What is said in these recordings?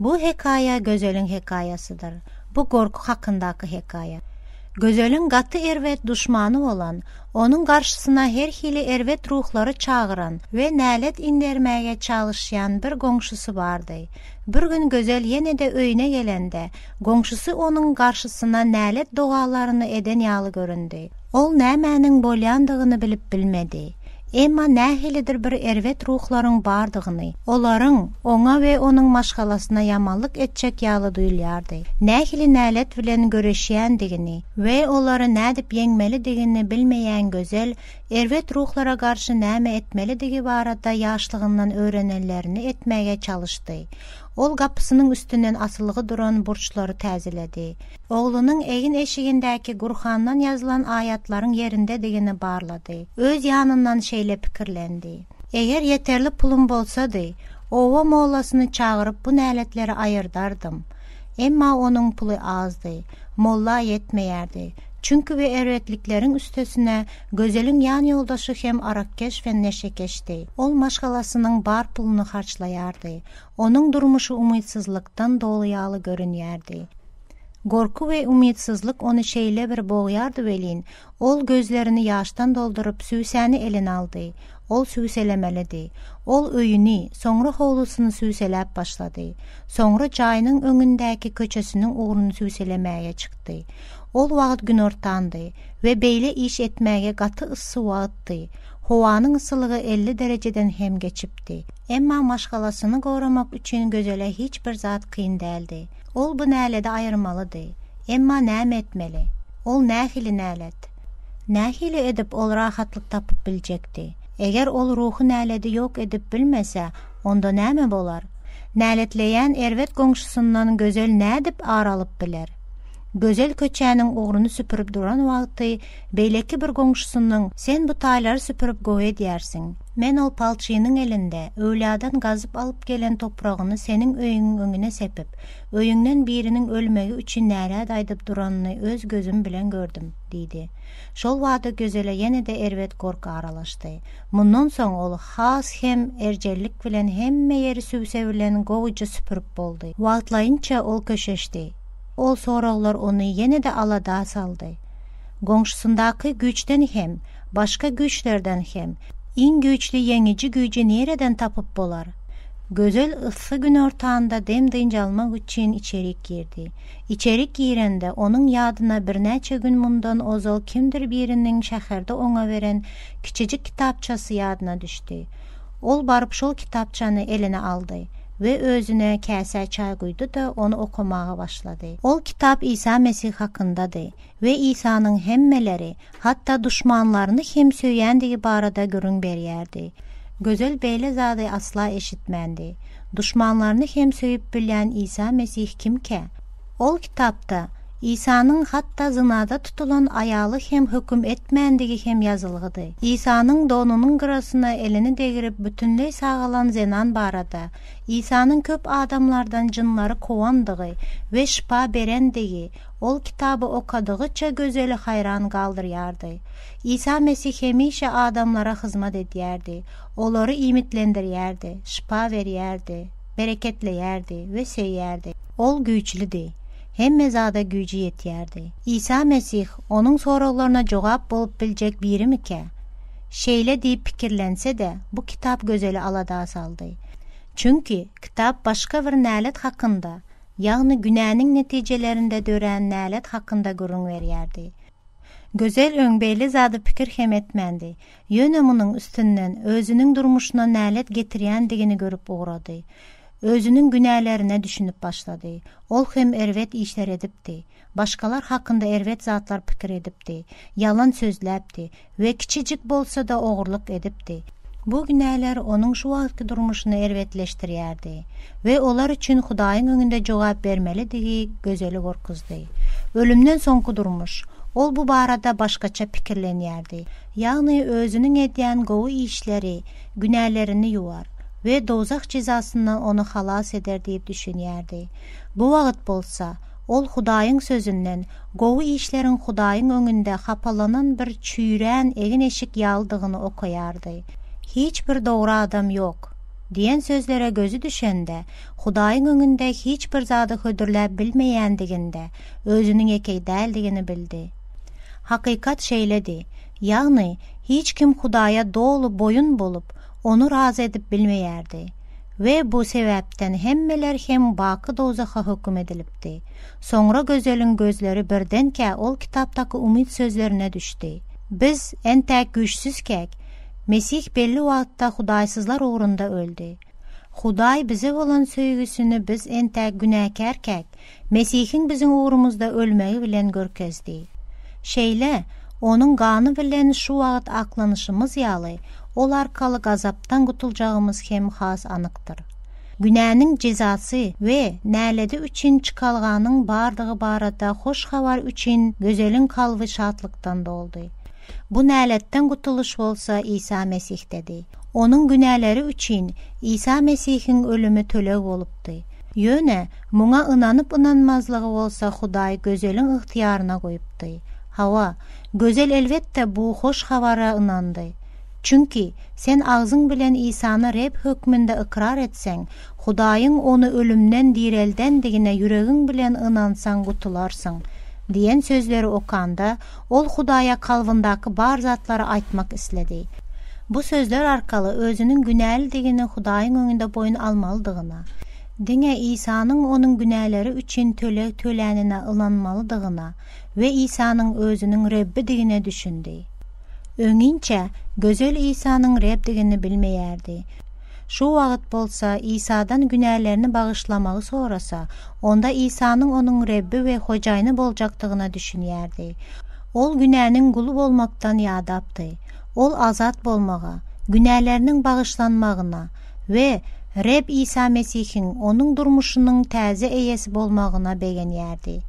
Bu hekaýa Gözeliň hekaýasydyr. Bu gorky hakyndaky hekaýa. Gözeliň gaty erbet duşmany bolan, onuň garşysyna her hili erbet ruhlary çagyran we nälet indermäge çalyşýan bir goňşusy bardy. Bir gün Gözel ýene-de öýüne gelende, Goňşusy onuň garşysyna nälet dogalaryny eden ýaly göründi. Ol nämäniň bolýandygyny bilip bilmedi. Emma nähilidir bir erbet ruhlaryň bardygyny, olaryň oňa we onuň maşgalasyna ýamanlyk etjek ýaly duýulýardy. Nähili nälet bilen göreşýändigini we olary nädip ýeňmelidigini bilmeýän Gözel, erbet ruhlara garşy näme etmelidigi barada ýaşlygyndan öwrenenlerini etmäge çalyşdy. Ol gapysynyň üstünden asylgy duran burçlary täzeledi. Oglunyň egin-eşigindäki Gurhandan ýazylan aýatlaryň ýerindedigini barlady. Öz ýanyndan şeýle pikirlendi, Eger ýeterli pulum bolsady, oba mollasyny çagyryp bu näletleri aýyrdardym. Emma onuň puly azdy. Molla ýetmeýärdi. Çünki bu erbetlikleriň üstesine Gözeliň ýanýoldaşy hem arakkeş we neşekeşdi. Ol maşgalasynyň bar puluny harçlaýardy. Onuň durmuşy umytsyzlykdan doly ýaly görünýärdi. Gorky we umytsyzlyk ony şeýle bir bogýardy welin, ol gözlerini ýaşdan dolduryp süwsäni eline aldy. Ol süwselemelidi. Ol öýüni, soňra howlusyny süwseläp başlady. Soňra jaýynyň öňündäki köçesiniň ugruny süwselemäge çykdy. Ol wagt günortandy we beýle iş etmäge gaty yssy wagtdy. Howanyň yssylygy elli derejeden hem geçipdi. Emma maşgalasyny goramak üçin Gözele hiç bir zat kyn däldi. Ol bu näledi aýyrmalydy. Emma näme etmeli? Ol nähili nälet? Nähili edip ol rahatlyk tapyp biljekdi? Eger ol ruhy näledi ýok edip bilmese, onda näme bolar? Näletleýän erbet goňşusyndan Gözel nädip ar alyp biler? Gözel köçäniň ugruny süpürip duran wagty beýleki bir goňşusynyň Sen bu taýlary süpürip gowy edýärsiň. Men ol palçynyň elinde öwladan gazyp alyp gelen topragyny seniň öýüňiň öňüne sepip, öýüňden biriniň ölmegi üçin nälet aýdyp duranyny öz gözüm bilen gördüm, diýdi. Şol bada Gözele ýene-de erbet gorky aralaşdy. Mundan soň ol has hem erjellik bilen hemme ýeri süwse bilen gowuja süpürip boldy. Wagtlaýynça ol köşeşdi. Ol soraglar ony ýene-de alada saldy. Goňşusyndaky güýçden hem, başga güýçlerden hem iň güýçli ýeňiji güýji nireden tapyp bolar? Gözel yssy günortanda dem-dynç almak üçin içerik girdi. Içerik girende, onuň ýadyna birnäçe gün mundan ozal kimdir biriniň şäherde oňa beren kiçijik kitapçasy ýadyna düşdi. Ol baryp şol kitapçany eline aldy we özüne käsä çaý guýdy-da, ony okamaga başlady. Ol kitap Isa Mesih hakyndady we Isanyň hemmeleri, hatda duşmanlaryny hem söýýändigi barada gürrüň berýärdi. Gözel beýle zady asla eşitmändi. Duşmanlaryny hem söýüp bilýän Isa Mesih kimkä? Ol kitapda Isanyň hatda zynada tutulan aýaly hem höküm etmändigi hem ýazylgydy. Isanyň donunyň gyrasyna elini degirip bütinleý sagalan zenan barada, Isanyň köp adamlardan jynlary kowandygy we şypa berendigi ol kitaby okadygyça Gözeli haýran galdyrýardy. Isa Mesih hemişe adamlara hyzmat edýärdi, olary iýmitlendirýärdi, şypa berýärdi. bereketleýärdi we söýýärdi. Ol güýçlüdi. Hemme zada güýji ýetýärdi. Isa Mesih onuň soraglaryna jogap bolup biljek birimikä? Şeýle diýip pikirlense-de, bu kitap Gözeli alada saldy. Çünki kitap başga bir nälet hakynda, ýagny günäniň netijelerinde dörän nälet hakynda gürrüň berýärdi. Gözel öň beýle zada pikir hem etmändi. Ýöne munuň üstünden özüniň durmuşyna nälet getirýändigini görüp ugrady. Özüniň günälerine düşünip başlady. Ol hem erbet işler edipdi. Başgalar hakynda erbet zatlar pikir edipdi. Ýalan sözläpdi we kiçijik bolsa-da ogurlyk edipdi. Bu günäler onuň şu wagtky durmuşyny erbetleşdirýärdi. we olar üçin Hudaýyň öňünde jogap bermelidigi Gözeli gorkuzdy. Ölümden soňky durmuş. Ol bu barada başgaça pikirlenýärdi, ýagny özüniň edýän gowy işleri günälerini ýuwar we dowzah jezasyndan ony halas eder diýip düşünýärdi. Bu wagt bolsa, ol Hudaýyň Sözünden gowy işleriň Hudaýyň öňünde hapalanan bir çüýrän egin-eşik ýalydygyny okaýardy. Hiç bir dogry adam ýok. Diýen sözlere gözi düşende, Hudaýyň öňünde hiç bir zady hödürläp bilmeýändiginde, özüniň ýekeý däldigini bildi. Hakykat şeýledi, ýagny hiç kim Hudaýa doly boýun bolup, Ony razy edip bilmeýärdi. We bu sebäpden hemmeler hem baky dowzaha höküm edilipdi. Soňra gözeliň gözleri birdenkä ol kitapdaky umyt sözlerine düşdi, Biz entäk güýçsüzkäk, Mesih belli wagtda hudaýsyzlar ugrunda öldi. Hudaý bize bolan söýgüsini biz entäk günäkärkäk, Mesihiň biziň ugrumyzda ölmegi bilen görkezdi. Şeýle, Onuň gany bilen şu wagt aklanyşymyz ýaly, ol arkaly gazapdan gutuljagymyz hem has anykdyr. Günäniň jezasy we näledi üçin çykalganyň bardygy barada hoş habar üçin Gözeliň kalby şatlykdan doldy. Bu näletden gutulyş bolsa Isa Mesihdedi. Onuň günäleri üçin Isa Mesihiň ölümi töleg bolupdy. Ýöne muňa ynanyp-ynanmazlygy bolsa Hudaý Gözeliň ygtyýaryna goýupdy. Hawa, Gözel elbetde bu hoş habara ynandy. Çünki, sen agzyň bilen Isany Reb hökmünde ykrar etseň, Hudaýyň Ony ölümden direldendigine ýüregiň bilen ynansaň gutularsyň diýen sözleri okanda, Ol Hudaýa kalbyndaky bar zatlary aýtmak isledi. Bu sözler arkaly özüniň günälidigini Hudaýyň öňünde boýun almalydygyna, diňe Isanyň onuň günäleri üçin töleg tölänine ynanmalydygyna we Isanyň özüniň Rebbidigine düşündi. Öňinçä Gözel Isanyň Rebdigini bilmeýärdi. Şu wagt bolsa Isadan günälerini bagyşlamagy sorasa, onda Isanyň onuň Rebbi we Hojaýyny boljakdygyna düşünýärdi. Ol günäniň guly bolmakdan ýadapdy. Ol azat bolmaga, günäleriniň bagyşlanmagyna we Reb Isa Mesihiň onuň durmuşynyň täze eýesi bolmagyna begenýärdi.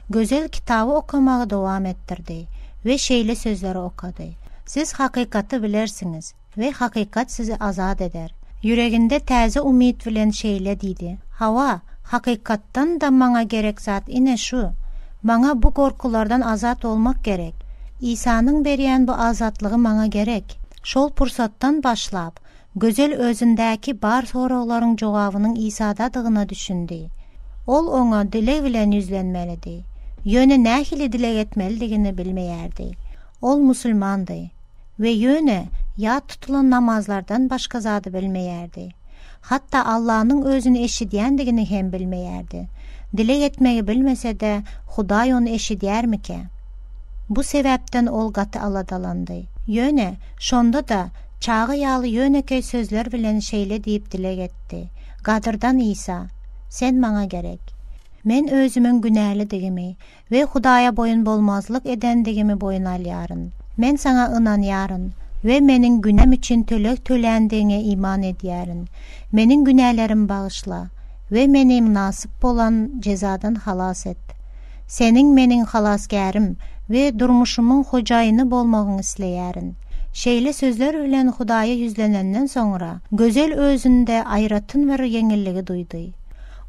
Gözel kitaby okamagy dowam etdirdi we şeýle sözleri okady, Siz hakykaty bilersiňiz. We hakykat sizi azat eder. Ýüreginde täze umyt bilen şeýle diýdi, Hawa, hakykatdan-da maňa gerek zat ine şu. Maňa bu gorkulardan azat bolmak gerek. Isanyň berýän bu azatlygy maňa gerek. Şol pursatdan başlap, Gözel özündäki bar soraglaryň jogabynyň Isadadygyna düşündi. Ol Oňa dileg bilen ýüzlenmelidi. Ýöne nähili dileg etmelidigini bilmeýärdi. Ol musulmandy. We ýöne ýat tutulan namazlardan başga zady bilmeýärdi. Hatda Allanyň Özüni eşidýändigini hem bilmeýärdi. Dileg etmegi bilmese-de, Hudaý ony eşidýärmikä? Bu sebäpden ol gaty aladalandy. Ýöne, şonda-da, çaga ýaly ýönekeý sözler bilen şeýle diýip dileg etdi, Gadyrdan Isa, Sen maňa gerek. Men özümiň günälidigimi, we Hudaýa boýun bolmazlyk edendigimi boýun alýaryn. Men Saňa ynanýaryn we meniň günäm üçin töleg töländigiňe iman edýärin. Meniň günälerimi bagyşla we meni mynasyp bolan jezadan halas et. Seniň meniň Halasgärim we durmuşymyň hojaýyny bolmagyňy isleýärin. Şeýle sözler bilen Hudaýa ýüzlenenden soňra, Gözel özünde aýratyn bir ýeňilligi duýdy.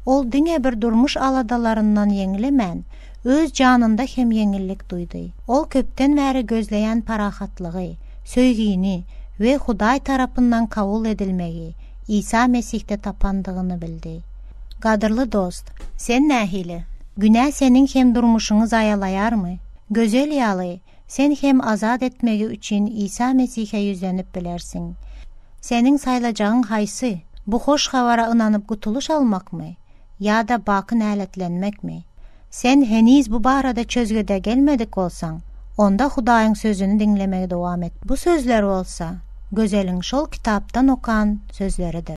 Ol diňe bir durmuş aladalaryndan ýeňlemän, öz janynda hem ýeňillik duýdy. Ol köpden bäri gözleýän parahatlygy, söýgini we Hudaý tarapyndan kabul edilmegi Isa Mesihde tapandygyny bildi. Gadyrly dost, sen nähili? Günä seniň hem durmuşyňy zaýalaýarmy? Gözel ýaly, Sen hem azat etmegi üçin Isa Mesihe ýüzlenip bilersiň. Seniň saýlajagyň haýsy? Bu hoş habara ynanyp gutulyş almakmy? Ýa-da baky näletlenmekmi? Sen heniz bu barada çözgüde gelmedik bolsaň, onda Hudaýyň Sözüni diňlemegi dowam et. Bu sözler bolsa, Gözeliň şol kitapdan okan sözleridir.